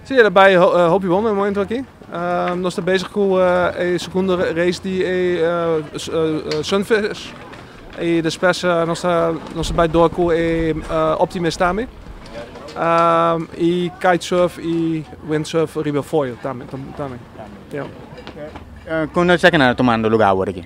Sí, e ta bai hopi bon den momento aki. Nos ta bezig cu e segundo race di e Sunfish. Y despues nos ta bai door cu e Optimist tambe. Y Kitesurf y Windsurf riba e foil tambe. Con esaki nan a tomando lugar awor aki?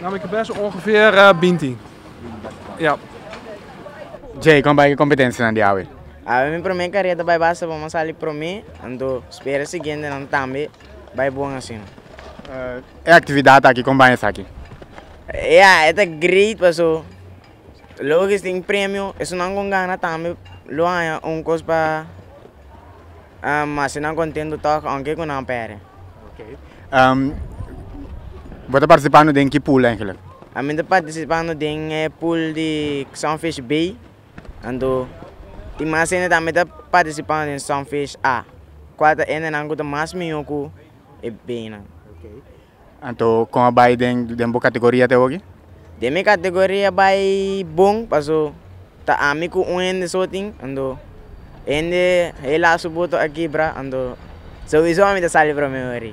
Nan mi ke pesa ongeveer binti. Yep. Jay, kon bai ku e kompetensianan di awe? Awe mi promé kareda bai basta bon. Mi a sali promé, anto spera siguientenan tambe bai bon asina. E aktividat aki, kon bai esaki? Ya, e ta great paso loke tin premio, esunnan kon gana tambe lo haña un kos pa. Ma si nan kontentu tòg aunke ku nan pèrdè. Bo ta partisipando den ki pool eigenlik? Mi ta partisipando den e pool di Sunfish B, anto tin mas hende tambe ta partisipando den Sunfish A, kual ta hendenan ku ta mas mihó ku e beinan. Anto con a bay den bo categoria te hogi? Den mi categoria bay bon paso ta ami cu un hende so tin anto hende hela su boto a kibra anto sobiso ami ta sali promeo ri.